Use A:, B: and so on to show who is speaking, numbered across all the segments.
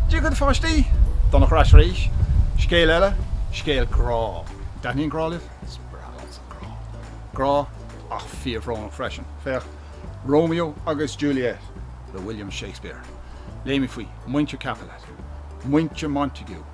A: Dia daoibh a pháistí! Donncha ar ais arís. Scéal eile, scéal grá. An dtaitníonn grá libh? Is breá liomsa grá. Grá ach fíorbhrónach freisin. Féach, Romeo agus Juliet le William Shakespeare. Léamh faoi Muintir Capulet, Muintir Montague.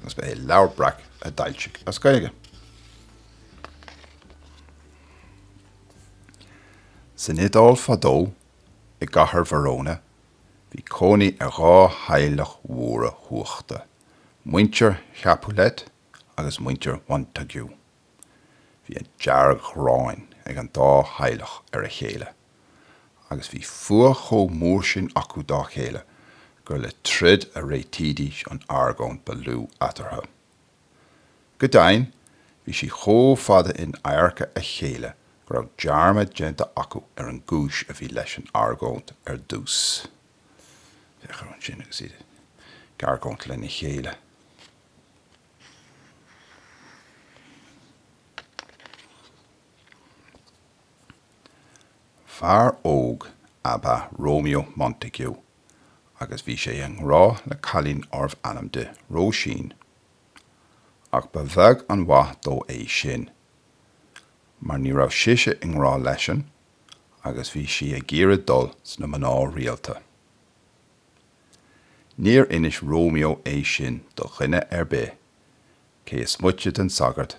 B: Agus ba é Leabhar Breac a d'fhoilsigh as Gaeilge. San Iodáil fadó, i gcathair Verona, bhí cónaí ar dhá theaghlach mhóra chumhachtacha, muintir Chapulet agus muintir Montague. Bhí an dearg-ghráin ag an dá theaghlach ar a chéile, agus bhí fuath chomh mór sin acu dá chéile gur le troid a réitídís an argóint ba lú eatarthu. Go deimhin, bhí siad chomh fada in adharca a chéile go raibh dearmad déanta acu ar an gcúis a bhí leis an argóint ar dtús. Féach ansin agus iad ag argóint lena chéile. Fear óg ab ea Romeo Montague agus bhí sé i ngrá le cailín darbh ainm di Róisín. Ach ba bheag an mhaith dó é sin, mar ní raibh sise i ngrá leisean agus bhí sí ag iarraidh dul sna mná rialta. Níor inis Romeo é sin do dhuine ar bith, cé is moite den sagart,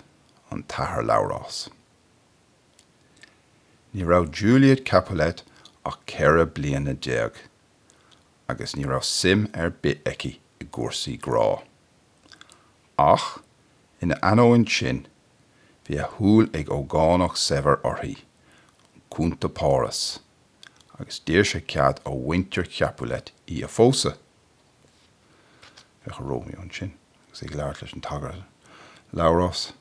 B: an tAthair Labhrás. Ní raibh Juliet Capulet ach ceithre bliana déag agus ní raibh suim ar bith aici i gcúrsaí grá. Ach, ina ainneoin sin, bhí a shúil ag ógánach saibhir uirthi, an Cunta Páras. agus d'iarr sé cead ó mhuintir Chapulet í a phósadh. Féach ar Romeo ansin agus é ag labhairt leis an tsagart, Labhrás,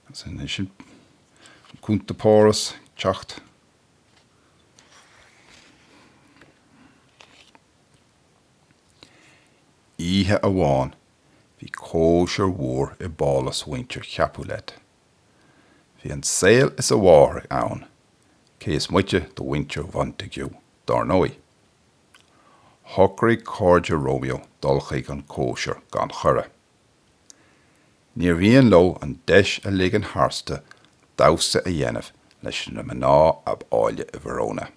B: agus ansin an Cunta Páras ag teacht. Oíche amháin bhí cóisir mhór i bpálas mhuintir Chapulet. Bhí an saol is a mháthair ann, cé is moite de mhuintir Mhontague, dár ndóigh. Shocraigh cairde Romeo dul chuig an gcóisir gan chuireadh. Níor mhian leo an deis a ligean tharstu damhsa a dhéanamh leis na mná ab áille i Verona.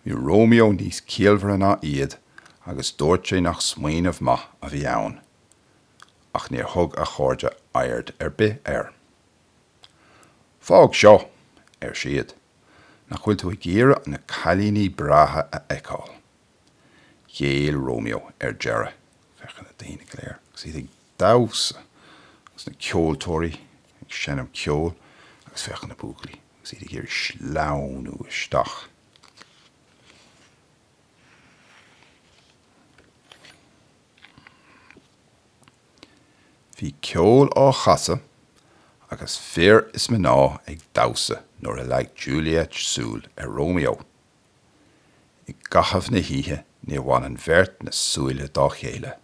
B: Bhí Romeo níos ciallmhaire ná iad agus dúirt sé nach smaoineamh maith a bhí ann. ach níor thug a chairde aird ar bith air. Fág seo! ar siad. Nach bhfuil tú ag iarraidh na cailíní breátha a fheiceáil? Ghéill Romeo ar deireadh. Féach ar na daoine go léir agus iad ag damhsa agus na ceoltóirí ag seinm ceoil agus féach ar na buachaillí agus iad ag iarraidh sleamhnú isteach. Bhí ceol á chasadh agus fir is mná ag damhsa nuair a leag Juliet súil ar Romeo. I gcaitheamh na hoíche níor bhain an bheirt na súile dá chéile.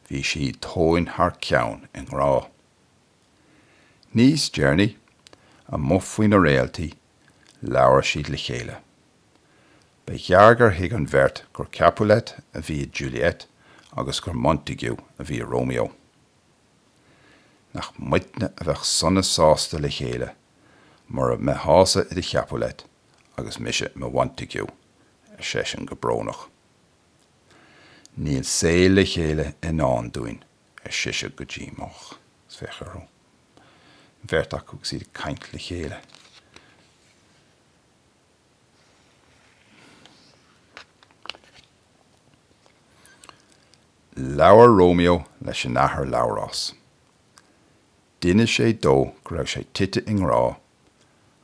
B: Bhí siad tóin thar ceann i ngrá. Níos deireanaí, amuigh faoi na réaltaí, labhair siad le chéile. Ba ghearr gur thuig an bheirt gur Capulet a bhí i Juliet agus gur Montague a bhí i Romeo. Nach muidne a bheadh sona sásta le chéile mura mbeitheása i do Chapulet agus mise i mo Mhontague, ar seisean go brónach. Níl saol le chéile i ndán dúinn, ar sise go díomách. Agus féach orthu, an bheirt acu, agus iad ag caint le chéile. Labhair Romeo leis an Athair Labhrás. D'inis sé dó go raibh sé tite i ngrá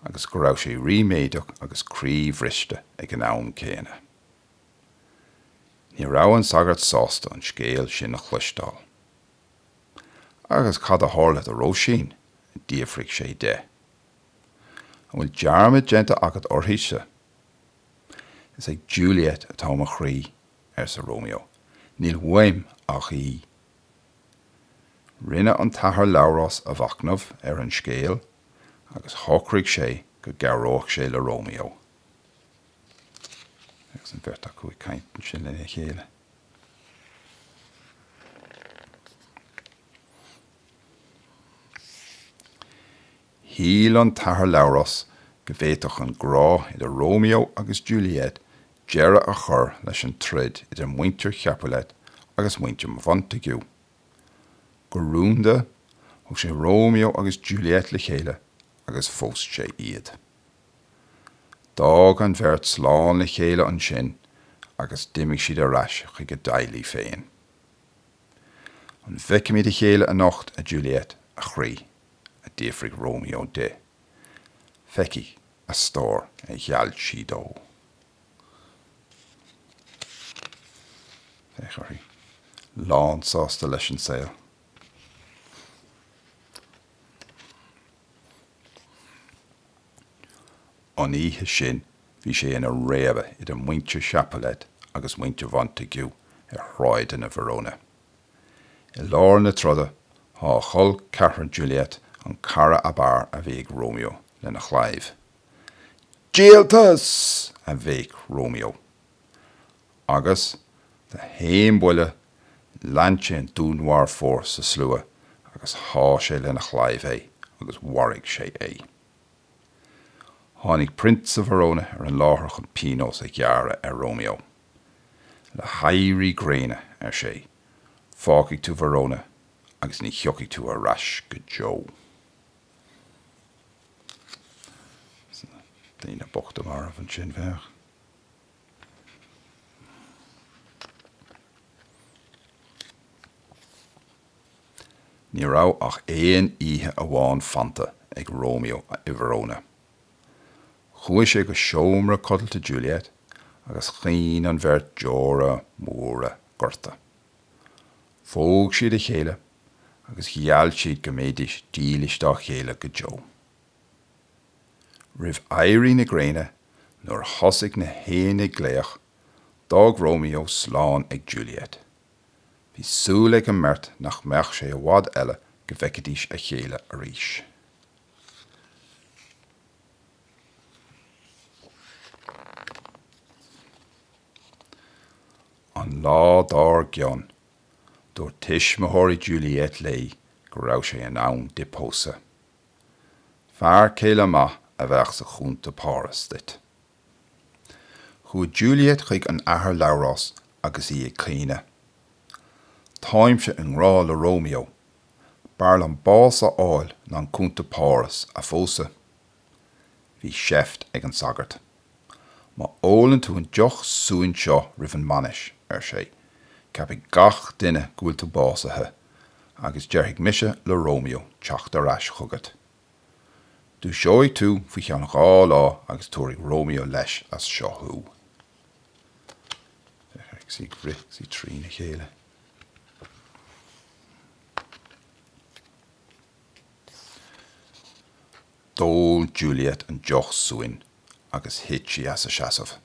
B: agus go raibh sé ríméadach agus croíbhriste ag an am céanna. Ní raibh an sagart sásta an scéal sin a chloisteáil. 'Agus cad a tharla do Róisín? d'fhiafraigh sé de. An bhfuil dearmad déanta agat uirthise? Is ag Juliet atá mo chroí, arsa Romeo, níl uaim ach í. Rinne an tAthair Labhrás a mhachnamh ar an scéal agus shocraigh sé go gcabhródh sé le Romeo agus an bheirt acu ag caint ansin lena chéile. Shíl an tAthair Labhrás go bhféadfadh an grá idir Romeo agus Juliet deireadh a chur leis an troid idir muintir Chapulet agus muintir Mhontague. Go rúnda, thug sé Romeo agus Juliet le chéile agus phós sé iad. D'fhág an bheirt slán le chéile ansin agus d'imigh siad ar ais chuig a dteaghlaigh féin. An bhfeicfimid a chéile anocht, a Juliet, a chroí? a d'fhiafraigh Romeo di. Feicfidh, a stór, a gheall sí dó. Féach uirthi. Lánsásta leis an saol. An oíche sin bhí sé ina réabadh idir muintir Chapulet agus muintir Montague ar shráideanna Verona. I lár na troda shá col ceathrair Juliet, an cara ab fhearr a bhí ag Romeo, lena chlaíomh. Díoltas! a bhéic Romeo. Agus d'aon bhuille, lean sé an dúnmharfóir sa slua agus shá sé lena chlaíomh é agus mharaigh sé é. Tháinig Prionsa Verona ar an láthair chun pionós a ghearradh ar Romeo. Le héirí gréine, ar sé, fágfaidh tú Verona agus ní thiocfaidh tú ar ais go deo. Daoine bochta marbh ansin, féach. Ní raibh ach aon oíche amháin fanta ag Romeo i Verona. Chuaigh sé go seomra codlata Juliet agus chaoin an bheirt deora móra goirte. Phóg siad a chéile agus gheall siad go mbeidís dílis dá chéile go deo. Roimh éirí na gréine, nuair a thosaigh na héin ag glaoch, d'fhág Romeo slán ag Juliet. Bhí súil ag an mbeirt nach mbeadh sé i bhfad eile go bhfeicfidís a chéile arís. An lá dár gcionn, dúirt tuismitheoirí Juliet léi go raibh sé in am di pósadh. Fear céile maith a bheadh sa Chunta Páras duit. Chuaigh Juliet chuig an Athair Labhrás agus í ag caoineadh. Táimse i ngrá le Romeo. B'fhearr liom bás a fháil ná an Cunta Páras a phósadh. Bhí seift ag an sagart. Má ólann tú an deoch suain seo roimh an mbainis, ar sé, ceapfaidh gach duine go bhfuil tú básaithe, agus déarfaidh mise le Romeo teacht ar ais chugat. Dúiseoidh tú faoi cheann dhá lá agus tabharfaidh Romeo leis as seo thú. Féach uirthi, is í ag rith, is í trína chéile. D'ól Juliet an deoch suain agus thit sí as a seasamh.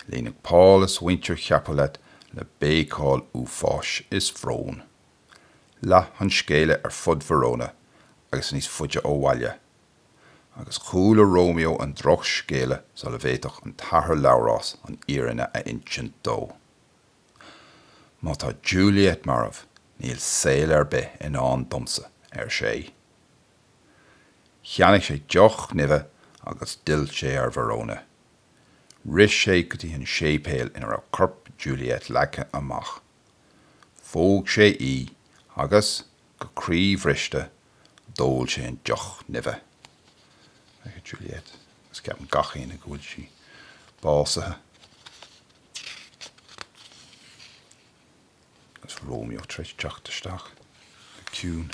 B: Líonadh pálás mhuintir Chapulet le béiceáil uafáis is bróin. Leath an scéala ar fud Verona agus níos faide ó bhaile. Agus chuala Romeo an drochscéala sula bhféadfadh an tAthair Labhrás an fhírinne a insint dó. Má tá Juliet marbh, níl saol ar bith i ndán domsa, ar sé. Cheannaigh sé deoch nimhe agus d'fhill sé ar Verona. Rith sé go dtí an séipéal ina raibh corp Juliet leagtha amach. Phóg sé í agus, go croíbhriste, d'ól sé an deoch nimhe. Féach ar Juliet, agus ceapann gach éinne go bhfuil sí básaithe. Agus Romeo tar éis teacht isteach go ciúin.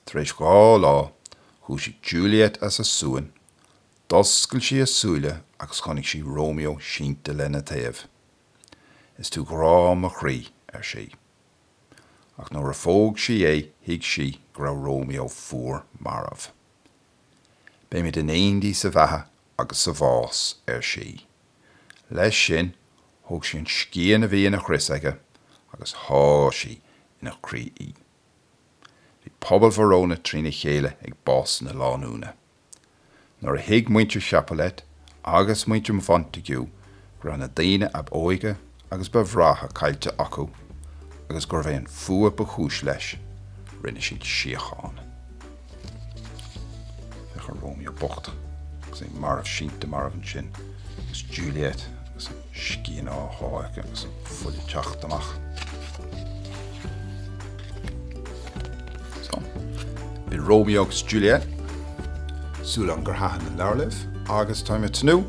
B: Tar éis dhá lá, dhúisigh Juliet as a suan, d'oscail sí a súile agus chonaic sí Romeo sínte lena taobh. Is tú grá mo chroí, ar sí. Ach nuair a phóg sí é thuig sí go raibh Romeo fuar marbh. Beimid in éindí sa bheatha agus sa bhás, ar sí. Leis sin, thóg sí an scian a bhí ina chrios aige agus sháigh sí ina croí í. Bhí pobal Verona trína chéile ag bás na lánúine. Nuair a thuig muintir Chapulet agus muintir Mhontague go raibh na daoine ab óige agus ba bhreátha caillte acu agus gurbh é an fuath ba chúis leis, rinne siad síocháin. Féach ar Romeo bocht agus é marbh sínte marbh ansin, agus Juliet agus an scian á shá aici agus an fuil ag teacht amach. So, b'in Romeo agus Juliet súil agam gur thaithin an leabhar libh agus táim ag tnúth